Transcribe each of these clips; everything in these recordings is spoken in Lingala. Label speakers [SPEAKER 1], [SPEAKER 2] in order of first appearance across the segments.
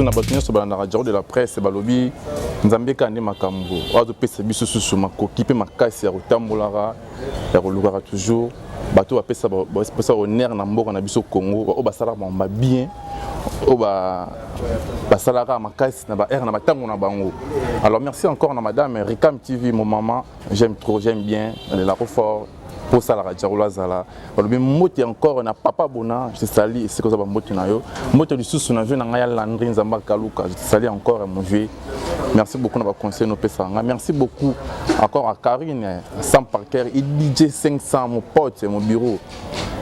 [SPEAKER 1] lisusu na bato nyonso balandaka jaro de la presse balobi nzambe kaka nde makambo oyo azopesa biso susu makoki mpe makasi ya kotambolaka ya kolukaka toujours bato oyo bapesa honneur na mboka na biso congo oyo basalaka bango babien oyo basalaka makasi na baheure na batango na bango alors merci encore na madame ricam tv momama j'aime trop j'aime bien nalelako fort mpo osalaka diakolo azala balobi mbote encore na papa bona je sali esika oza bambote na yo mbote lisusu na vie na ngai ya landri nzambe akaluka je sali encore ya movie merci beaucoup na baconseil nopesaka ngai merci beaucoup encore à carine sam parker idj 500 mopote mo bureau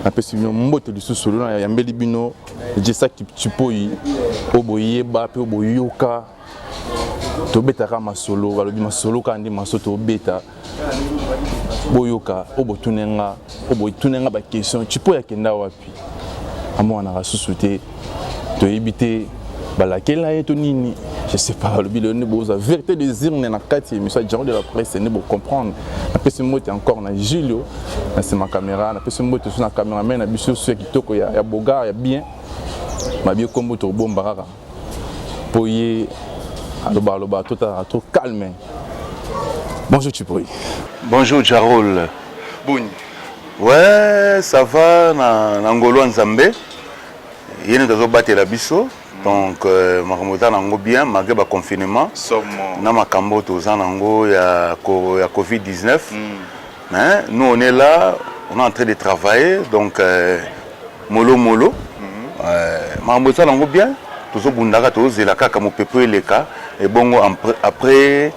[SPEAKER 1] napesi bino mbote lisusu lona yambeli bino jesa kipoi oyo boyeba mpe oyo boyoka tobetaka masolo balobi masolo kaka nde masolo tobeta boyoka oyo botune nga oyo botune nga baquestion cipo ya kenda wapi amonanaka susu te toyebi te balakela ye to nini je sais pas balobi lelo nde boza vérité des urnes na kati ya émission ya diaro de la presse nde bocomprendre napesi mbote encore na julio na nsima caméra napesi mbote so na caméraman na biso so ya kitoko ya bogar ya bien mabie nkombo tokobomba kaka mpo ye aloba aloba to tala to calme bonjour chipoi bonjour
[SPEAKER 2] jarol boni ouais ça va na, na ngolwa nzambe ye nde tozobatela biso donc euh, makambo eza nango bien malgré baconfinement na makambo toza nango ya, ya covid-19 mm. Mais nous on est là, on est en train de travailler donc euh, molo molo. Mm -hmm. euh, makambo esala yango bien tozobundaka tozela kaka mopepe eleka ebongo après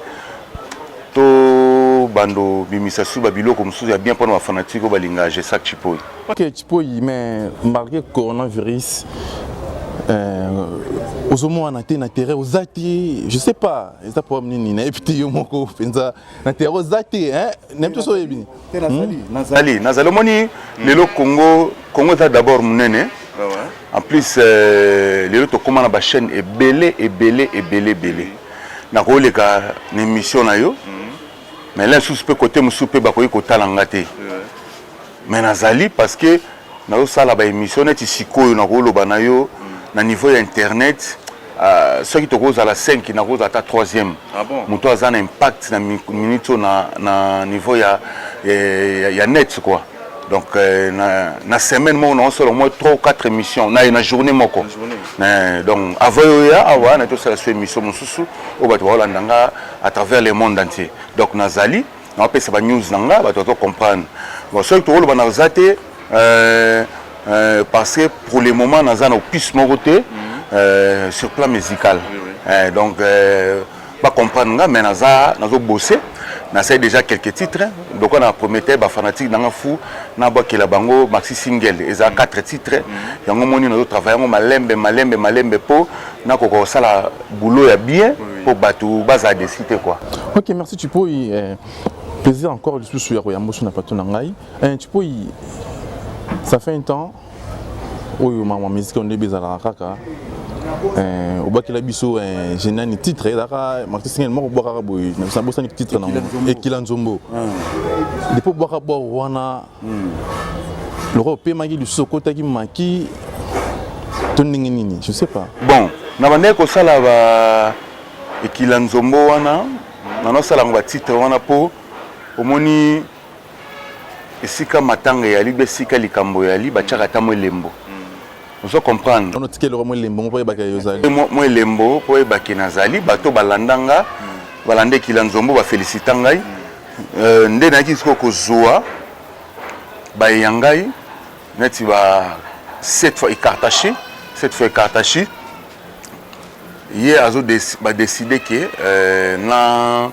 [SPEAKER 2] to bando bimisa su babiloko mosusu ya bien mpona bafanatike oyo balinga gesac chipoi ok chipoi
[SPEAKER 1] mais marke coronavirus euh, ozomona te na terrain oza te je sais pas eza problème nini nayebi te yo moko mpenza na tere oza te nayebi toso oyebi nazali
[SPEAKER 2] nazali omoni lelo congo congo eza d'abord monene en plus euh, lelo tokóma na bachaîne ebele ebele ebele ebele nakoleka na émission na yo mais la lisusu mpe kote mosusu mpe bakoki kotala nga te mais nazali parce que nazosala baémission neti sikoyo nakoloba na yo na niveau ya internet uh, soki tokozala 5 nakozala ata 3e ah bon? moto aza na impact na minute oyo na, na niveau ya, ya, eh, ya, ya net quoi donc euh, na, na semaine moko naosala omoi 3 ou 4 émission na, na journée moko na journée. Eh, donc avant yo ya awa na tosala so émission mosusu oyo bato baolanda nga à travers le monde entier donc nazali Na pesa ba news na nga bato bato comprendre. Bon soki tokoloba na za te euh, euh, parce que pour le moment naza na opus moko te euh, sur plan musical. Euh, donc euh, ba comprendre nga mais naza nazo bosser nasali déjà quelques titres lokola na prometteur bafanatique nanga fou nabwakela bango maxi single eza 4 titres yango moni nazotravaille yango malembe malembe malembe mpo nakoka kosala boulot ya bien mpo bato bazala desi te kua ok merci chipoi
[SPEAKER 1] eh, plaisir encore lisusu ya koyamba oso na plateau na ngai eh, chipoi ça fait un temps oyo mama miziki ondebe ezalaka kaka eh, obakela biso eh, genani titre ezalaka marti singel moko obwakaka boye nabosani titre nango ekila nzombo ah. depo obwaka bwaro wana Hmm. Loko opemaki lisusu okotaki maki to ndenge nini je sais pas. Bon, na bandaki
[SPEAKER 2] kosala ba ekila nzombo wana na nasalaka ba titre wana po omoni esika matanga eyali be esika likambo eyali batiaka ata mwa elembo hmm. ozo comprendre ono tikeli mwa elembo
[SPEAKER 1] mpo oyebaka yozali mwa elembo mpo
[SPEAKER 2] oyebaki nazali bato balanda nga hmm. balanda ekila nzombo bafelisita ngai Euh, nde nayaki sikoyo kozwa baye ya ngai neti ba cette fois ecartache cette fois ecartache ye azo badeside ke euh, na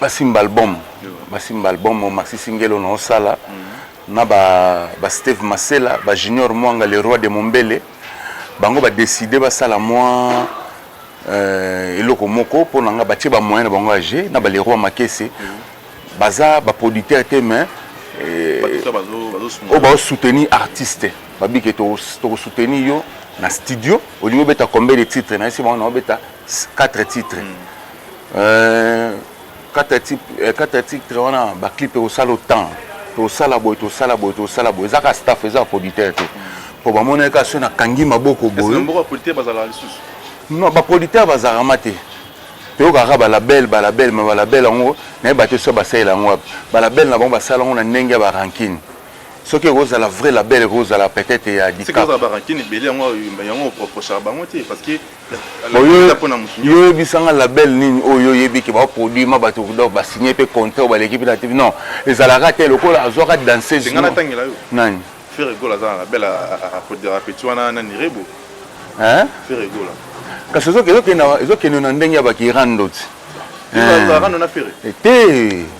[SPEAKER 2] basimba album basimba album maxi singelo na osala mhm. na ba, ba steve masela ba junior mwanga le roi de mombele bango badeside basala mwa Euh, eloko moko mpo na nga batie bamoyen na bango ya jeu na baleroi makese mm. baza baproducteur te mais euh, oyo baosoutenir artiste babike tokosoutenir yo na studio olingi obeta combien de titre na esi bango na obeta 4 titre mm. euh, kata titre kata titre wana ba clip ekosala autant tosala boye tosala boye tosala boye ezaka staff eza producteur te mpo bamonaki kaka soki nakangi maboko boye
[SPEAKER 1] non bapoliteur
[SPEAKER 2] bazalaka ma te toyokaka balabele balabele ma balabele yango nayeba te soki basalela yango wapi balabele na bango basala yango na ndenge ya barankine soki ekozala vrai label ekozala peut-être ya
[SPEAKER 1] dikap
[SPEAKER 2] yo yebisanga label nini oyo oyebi ke baproduit ma bato donc basigne mpe contrat oyo baleki mpe na tv non ezalaka te lokola azwaka danseuse nani
[SPEAKER 1] kasi
[SPEAKER 2] ezokende na ndenge ya bakirandoti
[SPEAKER 1] te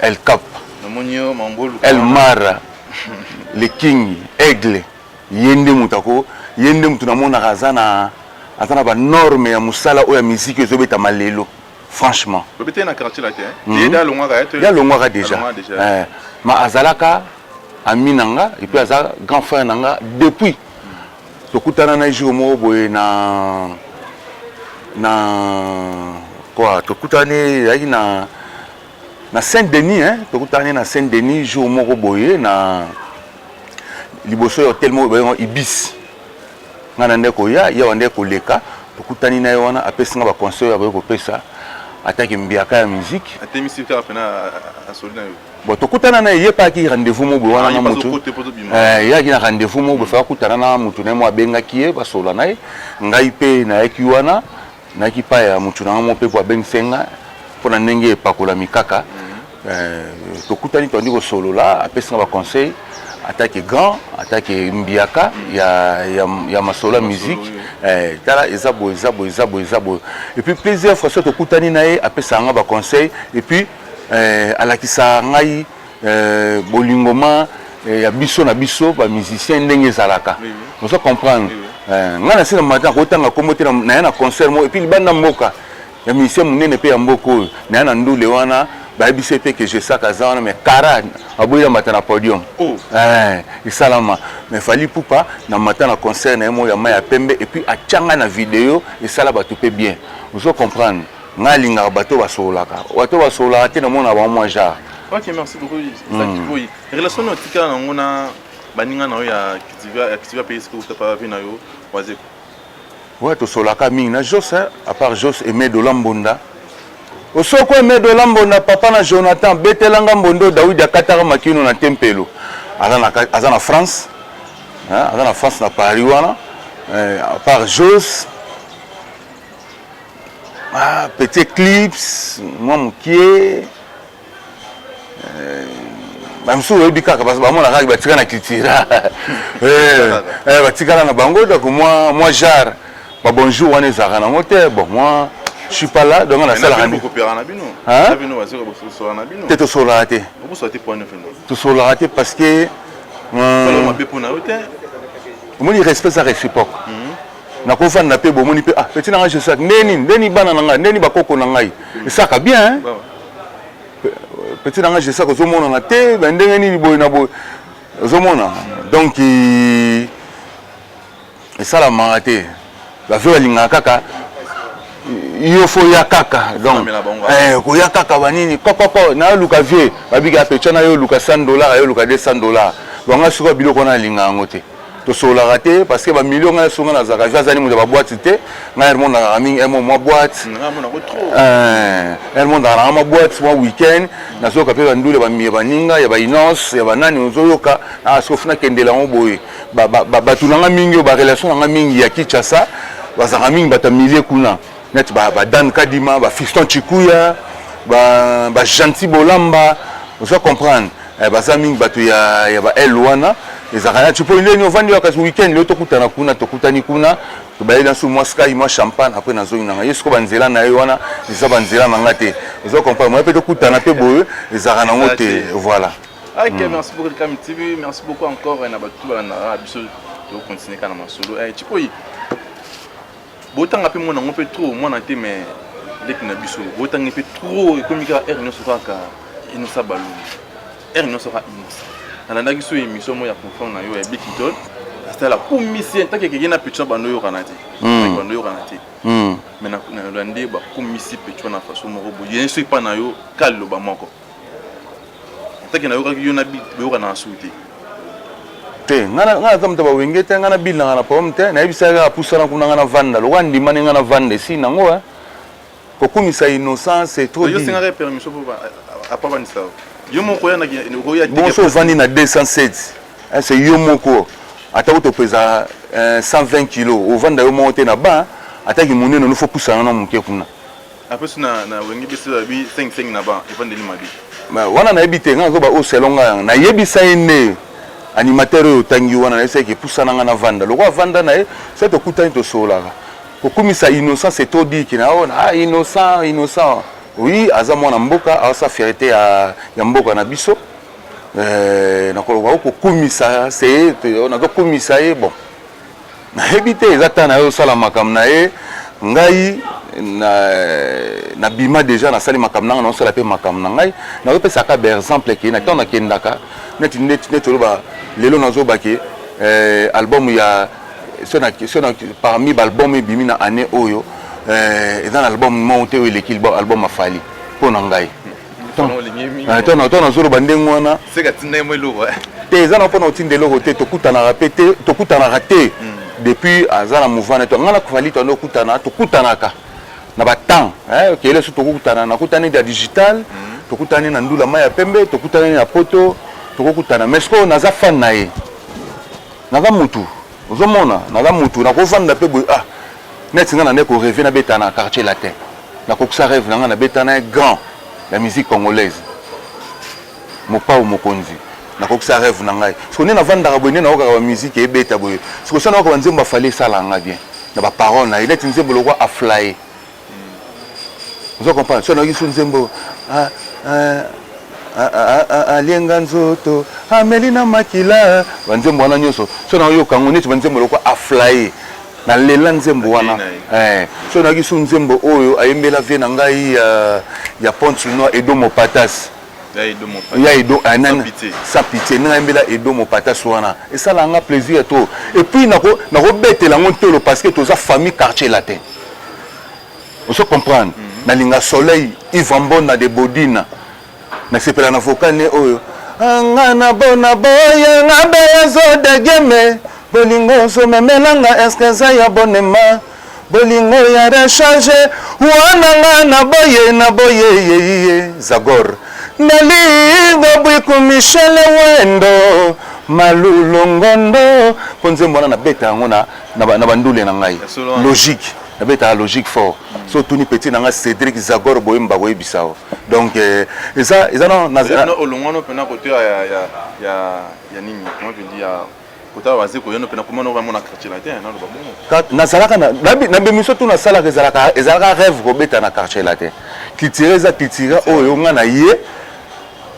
[SPEAKER 2] El Cap, El Mara, le King, Aigle, ye nde moto ako, ye nde moto namonaka aza na aza na ba normes ya mosala oyo ya miziki ezo betama lelo franchement. Obeteli na quartier
[SPEAKER 1] latin? Mm -hmm. Ye alongwaka ye to ye alongwaka
[SPEAKER 2] déjà. Eh, ma azalaka ami na nga et puis aza grand frère na nga depuis Tokutana na jour moko boye na na quoi tokutani ezalaki na na Saint Denis hein tokutani na Saint Denis jour moko boye na liboso ya hotel moko bayengo Ibis nga na ndeko ya ya wande koleka tokutani na ye wana apesi nga ba conseil ya boye kopesa ataki mbiaka ya musique atemisi mpe apena
[SPEAKER 1] asoli na yo Bon, tokutana na ye
[SPEAKER 2] mpe ayaki rendez-vous moko boye wana na motu eyaki na rendez-vous moko boye faka kutana na motu na ye moko abengaki ye basolola na ye ngai mpe nayaki wana nayaki epai ya motu na yango moko mpe mpo abengisi ngai mpo na ndenge epakolami kaka tokutani toyandi kosolola apesi nga baconseil atake grand atake mbiaka ya, ya, ya masolo ya musique eh, tala eza boye eza boye eza boye eza boye epuis plusieurs fois so tokutani na ye apesaka nga baconseil epuis eh, alakisa ngai eh, bolingoma eh, ya biso na biso ba musiciens ndenge ezalaka oui, oui. oza comprendre oui, oui. eh, ngai nasi na matin akotanga kombo te naya na concert moko epuis libanda mboka ya musicien monene mpe ya mboka oyo naya na ndule wana bayebisi ete ke jesak aza wana mais kara aboyi na mata na podium oh. eh, esalama mais fali pupa na mata na concert na ye moko ya mai ya pembe epuis atyanga na video esala bato mpe bien ozo comprendre Nga alingaka bato oyo basololaka. Bato oyo basololaka te na mona bango mwa genre. Ok, merci beaucoup. Eza mm.
[SPEAKER 1] kikoyi. Relation na otikala nango na baninga na yo ya Kitivia, ya Kitivia pays ko uta pa vie na yo wazeko. Ouais,
[SPEAKER 2] tosolaka mingi na Jos, hein, à part Jos et Medo Lambonda. Osoko et Medo Lambonda papa na Jonathan betelanga mbondo Daoud akataka makino na tempelo. Aza na aza na France. Hein, aza na France na Paris wana. Euh, à part Jos, Ah, petit eclipse mwa mokie bamisusu oyebi kaka bamona kaka batika na cultura eh, eh, batikala na bango donc mwa mwa genre babonjour wana ezalaka nango te bon mwa je suis pas là donc nasalaka te tosololaka te tosololaka te parce que omoni respect eza réciproque mhm. nakovanda mpe bomoni mpe ah, peti na ngai joseph nde nini nde nini bana na ngai nde nini bakoko na ngai esaka bien peti na ngai joseph ozomonana te me ndenge nini boye na boye ozomona donc esalamaka te bavio balingaka kaka yo fo ya kaka donc eh, koya kaka banini kokoko naluka vie babika pecha na yo oluka 100 dollar yo oluka 200 dollar bango sikoyo biloko wana alinga yango te tosololaka te parce que ba millions ngai songa na zaka eza zani moto ba boîte te ngai hermon na kaka mingi hermon mwa boîte hermon na kaka mwa boîte mwa week-end nazoyoka mpe bandule bamiye baninga ya bainance ya banani ozoyoka asof ah, nakendela yango boye bato na ngai mingi oyo barelation na ngai mingi ya kinshasa bazalaka mingi bato ya milie kuna neti ba, ba Dan Kadima ba Fiston Chikuya ba, ba Gentil Bolamba oza comprendre eh, baza mingi bato ya, ya ba L wana ezalaka nati mpo ndeni ovandi wa kasi weekend leo tokutana kuna tokutani kuna tobayeli na nsusu mwa sky mwa champagne apres nazongi na ngai ye siko banzela na ye wana eza banzela na ngai te oza comprendre moya mpe tokutana mpe boye ezalaka nango te voilà
[SPEAKER 1] Ok, mm. merci
[SPEAKER 2] beaucoup
[SPEAKER 1] Kami TV, merci beaucoup encore na bato
[SPEAKER 2] balandaka
[SPEAKER 1] biso tokokontinue kaka na masolo. Eh, Chipoyi, Botanga pe mwana ngo pe trop mwana te mais leki na biso botangi pe trop ekomi kaka heure nyonso kaka inosa balungi heure nyonso kaka inosa nalandaki so émission moko ya confront na yo ya bikitol asala commissaire ntaki ekeke na petua bando oyokana te hmm. bando oyokana te hmm. mais nalandi bakomisi petua na façon moko boye soki epa na yo kaliloba moko atake nayokaki yo na bi boyokana na suki
[SPEAKER 2] te te ngai naza moto ya bawenge te ngai nabilanga na problème te nayebisaki kaka pusana kuna ngai navanda lokola ndimani ngai navanda esi nango eh. kokumisa innocent c'est trop
[SPEAKER 1] bonso ovandi na 207 eh,
[SPEAKER 2] c'est yo moko atako topeza 120 eh, kilo ovanda yo moko te na ba ataki monene nofo pusana na moke kuna apesu na
[SPEAKER 1] na wenge biso ya bi 5 5 na ba evandeli mabi ba wana na yebite
[SPEAKER 2] nga ko ba o selon nga na yebisa ene animateur oyo tangi wana na yebisa ke pusana nga na vanda loko avanda na ye se to kutani to solaka ko kumisa innocent c'est trop dit kina ona ah innocent innocent oui aza mwana mboka asa fierté ya ya mboka na biso euh na ko ko kumisa se na ko kumisa ye bon nayebi te eza ta naye osala makambo na ye ngai nabima na deja nasali makambo nanga naosala mpe makambo na ngai nazopesaka baexemple ke na ntango nakendaka neti neti oloba lelo nazobake eh, album ya sona parmi baalbum ebimi na année oyo eh, eza na album moko te oyo eleki album afali mpo na ngai ntango nazoloba ndenge wana eh.
[SPEAKER 1] te eza na mpona
[SPEAKER 2] otinda eloko te tokutanaka mpe te tokutanaka te hmm. depuis aza na mouvement na to ngai na kofali tando okutana tokutanaka na batemps eh, kele so tokokutana nakutani na digital hmm. tokutani na ndula mai ya pembe tokutani na poto tokokutana mais sikoyo naza fan na ye naza mutu ozomona naza mutu nakovanda mpe boye ah neti nga na nde koreve nabeta na quartier latin nakokisa reve na nga nabeta na grand ya musique congolaise mopao mokonzi nakokisa reve na ngai siko nde navandaka boye nde naokaka bamusike ebeta boye siko sa naoka banzembo afali esala nga bien na baparole na ye neti nzembo lokwa aflaye ozo comprendre so nayoki su nzembo ah, ah, ah, alienga nzoto ameli na makila banzembo wana nyonso so nayoka yango neti banzembo lokwa aflaye nalela nzembo wana eh, so nayoki su nzembo oyo ayembela vie na ngai ya ponce noir edo mopatas ya edo mopata edo eh, nana sans pitié nanga yembela edo mopata so wana esala nga plaisir to et puis nako nako betela ngo ntolo parce que toza famille quartier latin ozo comprendre mm -hmm. nalinga soleil ivambona de bodina nasepela na vocal ne oyo nga na bona boya nga beya zo degeme bolingo ozomemela nga eske eza ya bonema Bolingo ya rechange wana nga na boye na boye yeye Zagor Nalingo Bwiku Michel Wendo Malulo Ngondo mpo nzembo wana nabeta yango na, na, na bandule na ngai logique nabetaka logique fort mm. so otuni petit na ngai Cédric Zagor boyemba bakoyebisa yo donc eh, eza eza olongwano mpena kote
[SPEAKER 1] ya, ya, ya, ya nini comment je dis ya kotala baze koyano mpe nakoma noko namona quartier latin naloba bongo nazalaka
[SPEAKER 2] na bemiso tu nasalaka ezalaka ezalaka rêve kobeta na quartier latin kitira eza kitira oyo nga na ye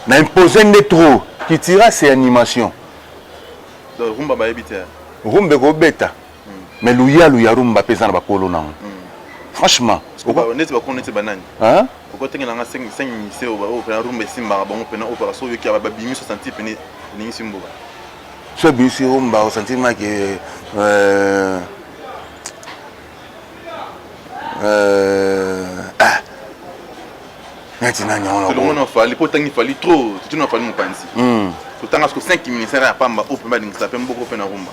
[SPEAKER 2] na impose nde trop kitira c'est animation
[SPEAKER 1] rumba bayebi te rumba ekobeta
[SPEAKER 2] mais luyalu ya rumba mpe eza na bakolo nango franchement neti bakolo
[SPEAKER 1] neti banani okotengela
[SPEAKER 2] nga 5
[SPEAKER 1] minise oyo pena rumba esimbaka bango pena oyo paka soki oyoki babimi 60 pene elingisi mboka so
[SPEAKER 2] ebimisi rumba osantima ke euh, euh, ah. neti nani yango
[SPEAKER 1] fali mpo otangi fali trop totuna fali mopanzi hmm. totanga soko 5 ministère ya pamba oyo mpe balingisa mpe mboko mpe na rumba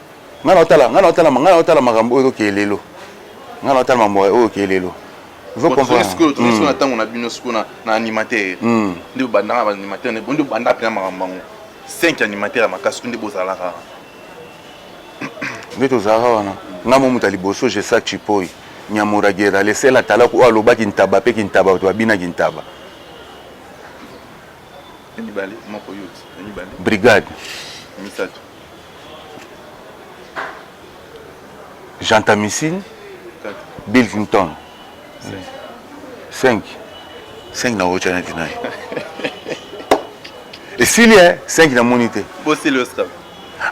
[SPEAKER 2] ngai naotala ngai naotala ngai naotala makambo oyo ezokeye lelo ngai naotala mambo oyo okeye lelo sikoyo tomi sikoyo na ntango na
[SPEAKER 1] bino sikoyo na animateur hmm. nde obandaka na animateur nde bonde obanda mpena makambo yango 5 animateur ya makasi nde bozalaka nde
[SPEAKER 2] tozalaka wana ngai mo moto ya liboso jesak chipoi nyamuragera lesel atalaku oyo alobaki ntaba mpe kintaba bato babinaki ntaba
[SPEAKER 1] brigade
[SPEAKER 2] misato Gentamicine, Bill Clinton. 5. 5 na ocha na tinai. Et s'il y a 5 na monité. Bon, c'est le
[SPEAKER 1] strap.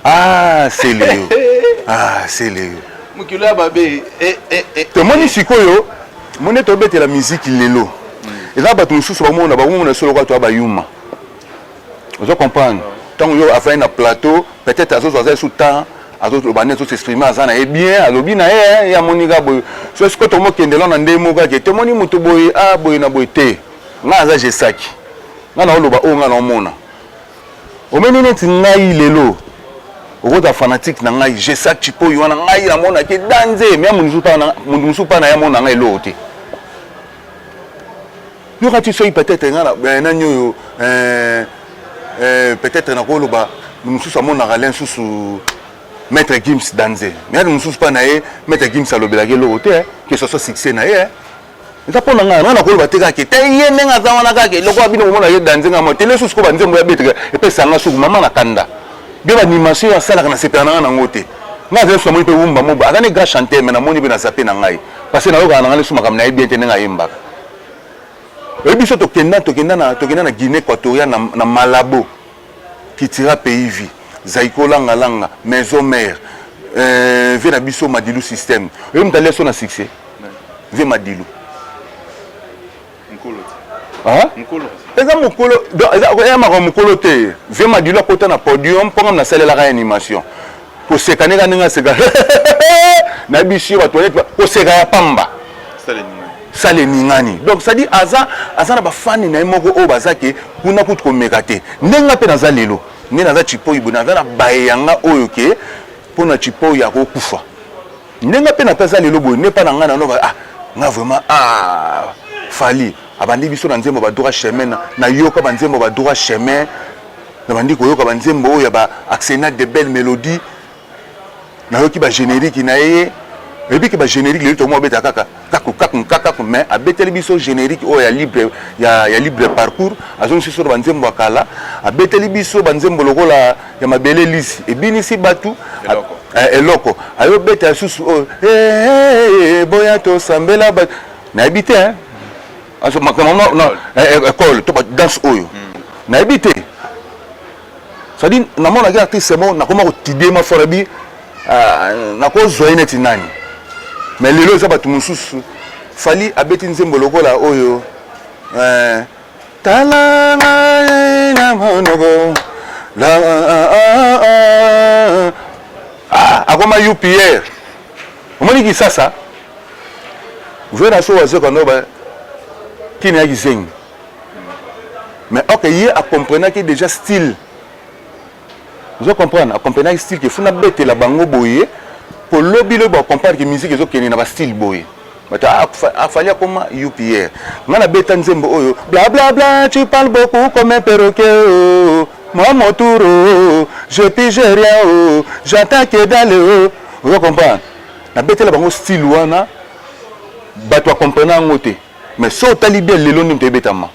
[SPEAKER 1] Ah,
[SPEAKER 2] c'est le. Ah, c'est le. Mukilo ya babe.
[SPEAKER 1] Eh, eh, eh, eh. Tomoni
[SPEAKER 2] sikoyo, moni tobetela musique lelo. Mm. Eza bato mosusu bamona bamona solo kwa to bayuma. ozo comprendre ntango yo afandi na plateau peut-être azozwa aza esu temps azoloba nde azosexprime aza na ye bien alobi na ye ye amoni kaka boye so sikoyo tomokende lona nde moko ake tomoni moto boye a ah, boye na boye te ngai aza jesaki ngai naoloba oyo ngai naomona omeni neti ngai lelo okozala fanatique na ngai jesak cipoyi wana ngai namonaki danze me moto mosusu mpa na ye amona ngai eloko te yoka ti soki peut-être nga eh, nani oyo eh, eh, peut-être nakoloba mosusu amonaka le nsusu maître gims danze mais ata mosusu mpa na ye maître gims alobelaki eloko te que ce soit succès na ye eza mpo na ngai ngai nakoloba te kaka te ye ndenge aza wana kaka eloko ya bino komona ye danze ngai motele susu ko banzembo ya betre epesa ngai suku mama na kanda bie banimation oyo asalaka na sepela na ngai nango te ngai azali susu namoni mpe wumba moba aza ne grand chanteur me namoni mpe na zape na ngai Parce que nayokaka na ngai lisu makambo nayebi bien te ndenge ayembaka oyebi biso tokenda tokenda na tokenda na guinée équatoriale na, na malabo kitira pays vie zaiko langa langa maison mère euh, vie na biso madilu système oyebi moto alia so na succès vie madilu
[SPEAKER 1] eza mokolo
[SPEAKER 2] eya makambo mokolo te vie madilo akota na podium mpo ngam nasalelaka ya animation koseka ndenge ndenge aseka na bisi yo bato koseka ya pamba sala eningani donc cestadi aza aza na bafani na ye moko oyo baza ke kuna kutu komeka te ndenge mpe naza lelo nde naza cipoyi boye naza na baye yanga oyo ke mpo na cipoyi akokufa Nde nga pe na taza lelo boye ne pa na nga na noka ah nga vraiment ah Fally abandi biso na nzembo ba droit chemin na na yoka ba nzembo ba droit chemin na bandi koyoka ba nzembo oyo ya ba accenat de belle melodie na yoki ba generique na ye et puis que ba generique lelo to mo beta kaka kaku kaku nkakaku mais abeteli biso générique oyo ya libre, ya, ya libre parcours azongisi biso na banzembo ya kala abeteli biso banzembo lokola ya mabele lisi ebinisi bato eh, eloko ayobeta lisusu oyo oh, eh, eh, boya tosambela bato nayebi te ekole to badanse oyo hmm. nayebi te ça dit na mona ki artiste bon na koma ko tider ma fora bi euh, na ko zoye neti nani mais lelo eza batu mususu fali abeti nzembo lokola oyo euh, tala ngai na monoko la ah, ah, ah, ah akoma upr omoni kisasa vera so wazoka no ba kini ya kizengi mais ok ye a comprenaki déjà style ozo comprendre a comprenaki style ke funa betela bango boye po lobi lobi ba comprendre ke musique ezo kende na ba style boye bato ah, afali akoma upr nga nabeta nzembo oyo blablabla tu parle beaucoup comme un perroquet oh, moi mon tour oh, je pige rien oh, j'entends que dalle oh. ozo comprendre nabetela bango style wana bato akomprena yango te mais so otali bien lelo nini toyebetama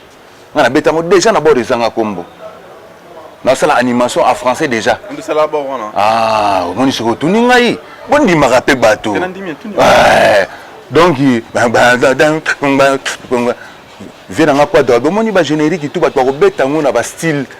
[SPEAKER 2] nga na betango deja na bord ezanga kombo nasala animation a français deja
[SPEAKER 1] ah, omoni soki
[SPEAKER 2] otuni ngai bondimaka mpe bato eh, donc vie na nga kwadra bomoni bagénérique tu bato bakobeta yango na bastyle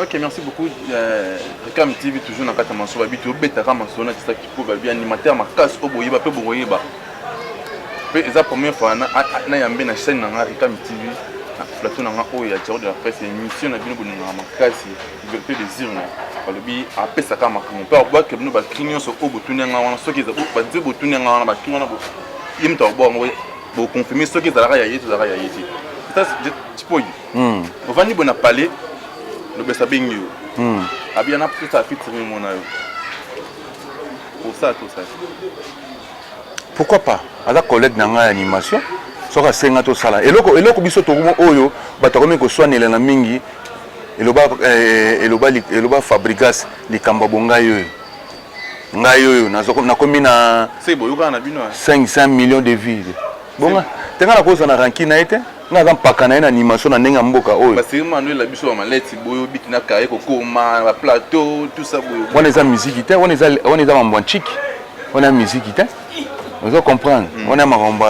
[SPEAKER 2] Ok,
[SPEAKER 1] merci beaucoup. Euh, Reclam TV, toujours dans Kata Mansoba, Bitu, Obeta Kama Sona, c'est ça qui prouve bien animateur, ma casse, Oboyeba, peu Boyeba. Peu, c'est la première fois, na, na, yambe, na chaîne, na, Reclam TV, na, plateau, na, oh, ya, Tcharo de la presse, émission, na, bino, bono, na, ma casse, liberté des urnes. balobi apesaka makambo mpe abwaki bino bakri nyonso oyo botuni yanga wana soki eza banze botuni yanga wana bakri wana ye moto akobwa yango bokonfirme soki ezalaka ya ye to ezalaka ya ye te mpo Hmm. Ovandi boye na palais, lobesa bengi yo. Hmm. Abia na pesa featuring mona yo. Pour ça tout ça.
[SPEAKER 2] Pourquoi pas? Aza collègue na ngai animation. Soka senga to sala. Eloko eloko biso to oyo batakomi ko swanela na mingi. Eloba eh, eloba eloba Fabrigas likamba bonga yo. Ngai oyo nakomi na 500
[SPEAKER 1] millions de
[SPEAKER 2] vues. Bonga. Tenga na kosa na ranki na ete. nga aza mpaka na ye na animation na ndenge ya mboka oyo baseri manuel na biso ya
[SPEAKER 1] maleti boyo biti na kaye kokoma na baplateau tusa boyo wana eza miziki te
[SPEAKER 2] wana eza mambo ya nciki wana ya miziki te ozo comprendre hmm. wana makambo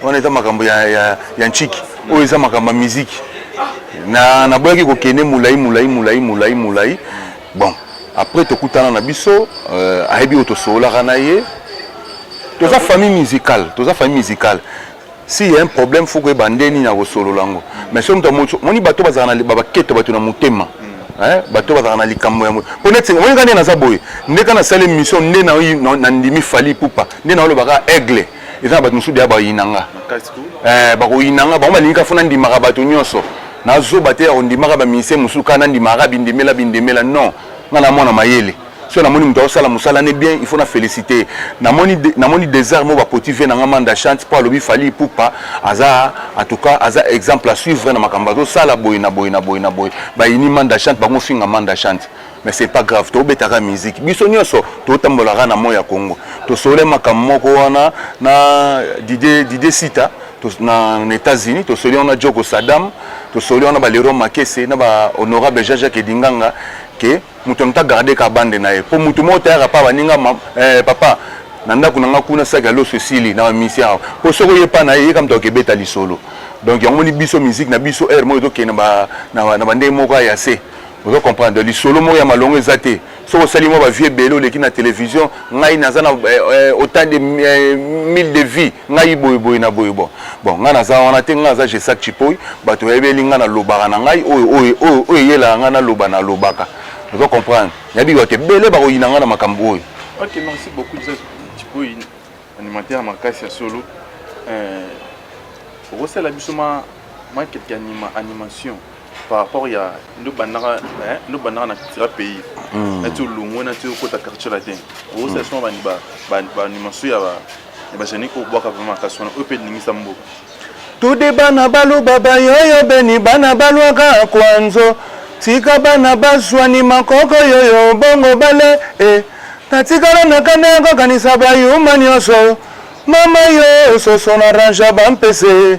[SPEAKER 2] wana eza makambo ya, ya, ya nciki hmm. oyo eza makambo ya miziki na naboyaki kokende molai molai molai molai molai bon après tokutana na biso euh, ayebi oyo tosololaka na ye toza famille musicale toza famille musicale si ya un problème faut koyeba nde nini ya kosolola yango mais soki moto moni bato bazala na baketo bato na motema bato bazala na likambo yango mpo neti moni ka nde naza boye nde ka nasala émission nde na ndimi fali pupa nde naolobaka aigle eza na bato mosusu deya bayina nga eh, bakoyina nga bango balingi ka fo nandimaka bato nyonso nazoba te ya kondimaka baministère mosusu kaka nandimaka bindimela bindimela non nga na mwana mayele soki namoni moto akosala mosala ne bien il faut na félicité namoni de, namoni désert moko bapoti vie na nga manda chante mpo alobi fali ipupa aza en tout cas aza exemple à suivre na makambo azosala boye na boye na boye na boye bayini manda chante bango finga manda chante mais c'est pas grave tobetaka musique biso nyonso totambolaka na moi ya congo tosole makambo moko wana na dide dide sita na, na états-unis tosoli wana joko sadam tosoli wana baleron makese na bahonorable jean jacques edinganga ke moto yango ta garde ka bande na ye mpo moto moko tayaka pa baninga eh, papa na ndako na nga kuna saki ya loso esili na bamisien awa mpo soki oye epa na ye yeka moto akebeta lisolo donc yango moni biso miziki na biso heure moko ezokende na bandenge moko ya se ozo comprendre lisolo moko ya malongo eza te soki osali mwa bavie ebele oleki na televizio ngai naza na euh, autant de euh, mille de vie ngai boye boye na boye bon bon ngai naza wana te ngai naza jesak chipoi bato bayebeli ngai nalobaka na ngai oyo oyo oyo oyo eyelaka ngai naloba nalobaka ozo comprendre nayebi bato ebele bakoyina ngai na makambo oyo ok merci
[SPEAKER 1] beaucoup jesak chipoi animateur makasi ya solo euh, okosala biso ma ma quelque anima animation par rapport ya nde obandaka nde obandaka na cultura pays nati olongwe nati okota quartier latin okosala soma bandi baanimaso ya bajanike obwaka vraimen makasi wana oyo mpe elingisa mboka tudi
[SPEAKER 2] bana baluba bayoyo beni bana balwaka kwanzo tika bana bazwani makoko yoyo bongo bale e natikala na kanda ya kokanisa bayuma nyonso mama yo soso na ranja bampese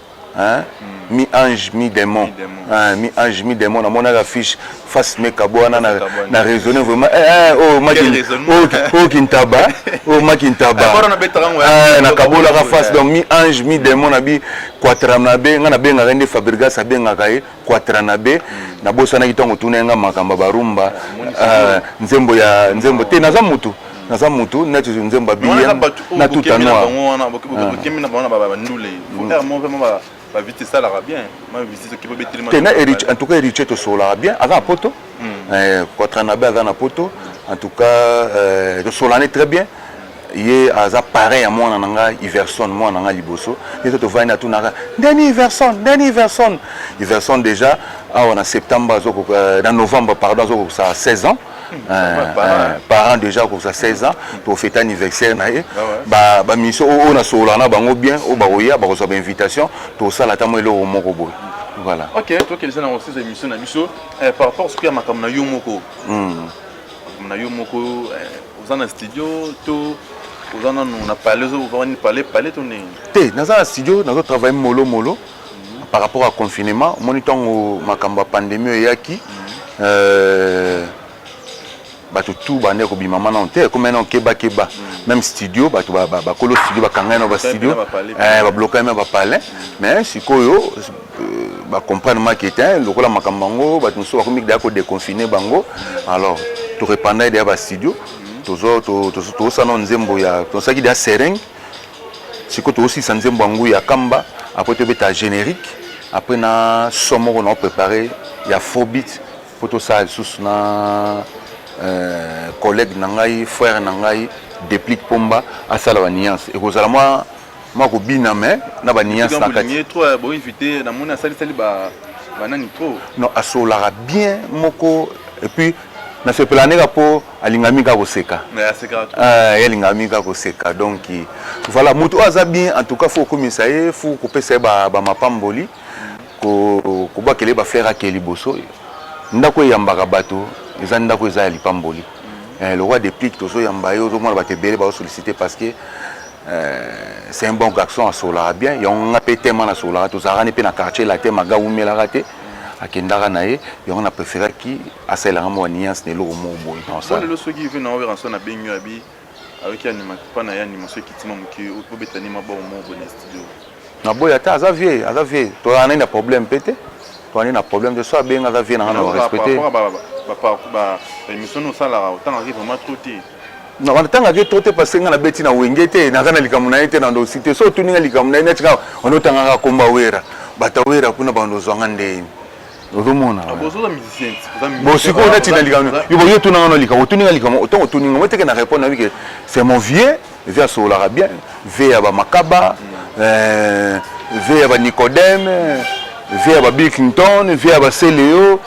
[SPEAKER 2] hein mi ange mi demon hein mi ange mi demon namonaka affiche face me kabwa na na raisonner vraiment eh, eh oh maki oh, oh kintaba oh maki ntaba eh, eh, na kabolaka face donc mi ange mi demon na bi quatram na be nga na bengaka nde Fabregas abengaka ye Quatranabe nabosanaki ntango otunaki nga makambo ya barumba euh, nzembo ya nzembo te naza mutu naza mutu neti nzembo ya bm na tuta noir
[SPEAKER 1] bavite esalaka bien mavite soki bobetelema te na en tout cas héritier
[SPEAKER 2] tosolaka bien aza na poto hmm. eh, quatranabe aza na poto en tout cas euh, tosolani très bien ye aza parrain ya mwana na ngai iverson mwana na ngai liboso ye to tovandi atunaka ndeni iverson ndeni iverson iverson déjà awa na septembre azoko euh, na novembre pardon azokokisa 16 ans hmm, euh, euh, parent déjà akokisa 16 ans tofete anniversaire na ye ah bamisio oyo nasolola na bango bien oyo bakoya bakozwa bainvitation tosala ata mwa eloko moko boye voilà ok tokelisa na
[SPEAKER 1] osis émission na biso par rapport soki ya makambo na yo moko hmm. Comme na yo moko eh, oza na studio to oza nanu na pale ozovani pale pale to nini te naza na studio
[SPEAKER 2] nazo travaille molo molo mhm. par rapport à confinement omoni ntango makambo ya pandémie oyo eyaki mhm. euh, bato tu bande ya kobima ma nano te ekoma nano kebakeba mhm. même studio bato bakolo studio bakangai na bastudio bablokami na bapalin mais sikoyo ba comprendre make te hein, lokola makambo yango bato mosusu bakomi deya kodeconfine bango alors torepandaki deya bastudio tozosala nao nzembo ya tosalaki deya sereng sikoyo tozosilisa nzembo yango ya kamba après tobeta générique après na so moko nao prépare ya faux bit mpo tosala lisusu na euh, collègue na ngai frère na ngai déplique pomba asala ba nuance ekozala mwa Moi ko bina mais na ba nuance na kati. Trop euh, bo invité na
[SPEAKER 1] mona sali sali ba ba nani trop. Non asolaka
[SPEAKER 2] bien moko et puis na sepela neka po alingami ka koseka. Mais aseka trop. Ah, euh, alingami ka koseka donc voilà mutu oyo aza bien en tout cas faut komisa ye faut kopesa ye ba ba mapamboli ko kobakele ba fleur ake liboso ndako eyambaka bato eza ndako eza ya lipamboli mm. eh, lokola deplique tozoyamba ye ozomona bato ebele baosollicite parce que c'est un bon garçon asolaka bien yango nga mpe tema nasolaka tozalaka ne mpe na quartier latin maga wumelaka te akendaka na ye yango na préféraki asalelanga mwa nuance na eloko moko boye lelo soki ive na oweranson
[SPEAKER 1] abengi abi ayoki animapa na ye animation ekitima moke obetani mabao moko boye na studio naboyi ata
[SPEAKER 2] aza vie aza vie tozalaka nani na problème mpe te tozalani na problème te so abenga aza vie na nga na respecte baémission
[SPEAKER 1] osalaka otangaki vraiment trop te na wana tanga ke
[SPEAKER 2] trop te parce que nga na beti na wenge te naza na likambo na ye te na ndosi te so otuni nga likambo na ye neti kaka ono tangaka komba wera bata wera kuna bando zwanga ndeni ozomona ah,
[SPEAKER 1] bon sikoyo neti
[SPEAKER 2] na likambo yo yo tuna nga na likambo otuni nga likambo otango otuni nga moteke na répondre nabi ke c'est mon vieux eze asololaka bien vie ya bamakaba euh, vie ya banicodème vie ya babilkington vie ya baseleo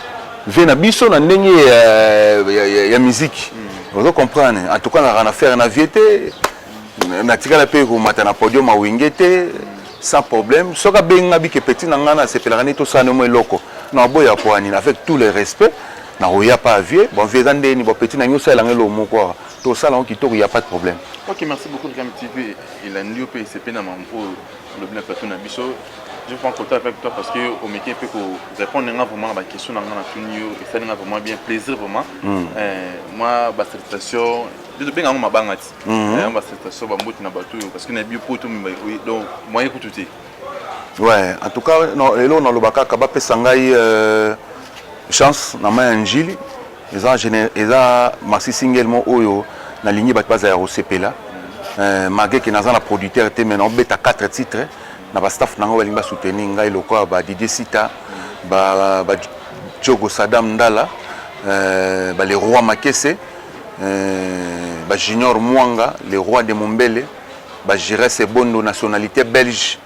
[SPEAKER 2] vie na biso na ndenge ya, ya, ya, ya miziki mm. ozo comprendre en tout cas nazalaka na faire na vie te natikala mpe komata na podium awenge te sans problème soki abenga bike petit na ngai nasepelaka nde tosala nemo eloko na aboya poani avec tout le respect nakoya mpe avie bon vie eza ndeni bon petit na ngai osalela ngai eloko moko awa tosala yango kitoko ya pas de problème ok merci beaucoup
[SPEAKER 1] tv elandi yo mpe esepe na mampo olobi na plateau na biso je prends contact avec toi parce que omeki mpe ko répondre nga vraiment na baquestion na nga na tuni yo esali nga vraiment bien plaisir vraiment hmm. eh, mwa basalutation tobenga yango mabanga ti hmm. eh, basalutation bamboti na bato oyo parce que na bio poto donc moyen kutu te ouais en tout
[SPEAKER 2] cas lelo naloba kaka bapesa ngai euh, chance na mai ya njili eza eza maxi single mo oyo nalingi bato bazala ya kosepela euh, malgré ke naza na producteur te mais naobeta 4 titre na bastaff na ngai balingi basoutenir ngai lokola ba didier sita ba, ba jogo sadam ndala euh, ba le roi makese euh, ba junior mwanga le roi de mombele ba giresse ebondo nationalité belge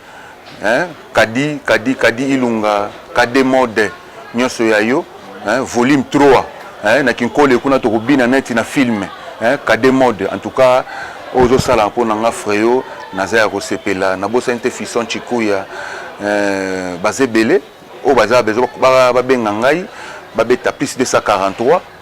[SPEAKER 2] hein? kadi kadi kadi ilunga kade mode nionso ya yo hein, volume 3 hein, na kinkole kuna tokobina neti na film hein, kade mode en tout cas ozosala mpo na nga freo naza ya kosepela nabosani te fison chikuya euh, baza ebele oyo baza babenga ngai babeta plus 243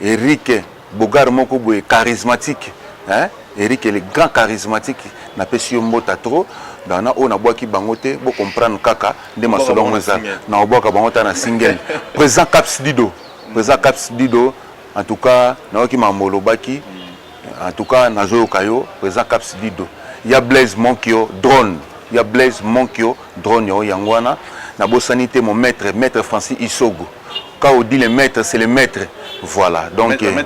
[SPEAKER 2] Eric beaugard moko boye charismatique hein Eric le grand charismatique napesi yo mbota trop donc na oyo nabwaki bango te bo comprendre kaka nde masolo yango eza na obwaka bango ta na single président caps dido président caps dido en tout cas nayoki makambo olobaki En tout cas nazoyoka yo président Caps Dido ya Blaise Monkio drone ya Blaise Monkio drone yo yango wana nabosani te mon maître maître Francis Isogo quand on dit le maître c'est le maître voilà donc euh,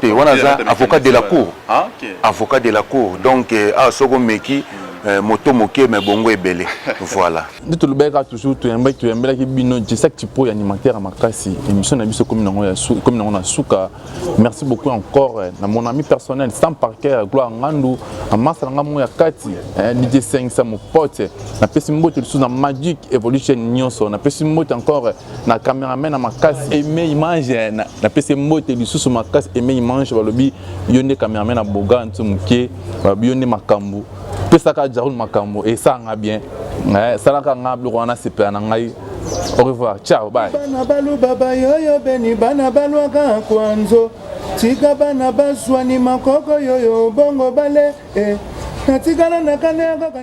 [SPEAKER 2] te wana aza avocat de la cour ah, avocat
[SPEAKER 3] de la cour
[SPEAKER 2] donc euh, awa ah, soko omeki hmm. euh, moto moke me bongo ebele voilà nde tolobelaka
[SPEAKER 1] toujours toyambaki toyambelaki bino jesaki tipo ya animateur ya makasi émission na biso ekomi nango na suka Merci beaucoup encore eh, na mon ami personnel Sam Parker Gloire Ngandu na masa na ngai ya kati eh, DJ Sengisa mon pote eh. na pesi mbote lisusu na Magic Evolution nyonso na pesi mbote encore na cameraman na makasi aime image na, na pesi mbote lisusu makasi aime image balobi yo nde cameraman na boga ntu moke balobi yo nde makambo pesaka jarul makambo esanga bien eh, salaka ngai biloko wana sepela na ngai Au revoir. Ciao, bye. Bana balu baba
[SPEAKER 4] yoyo beni bana balwaka kwanzo tika bana baswani makoko yoyo bongo bale eh. natikala na kale ya kaka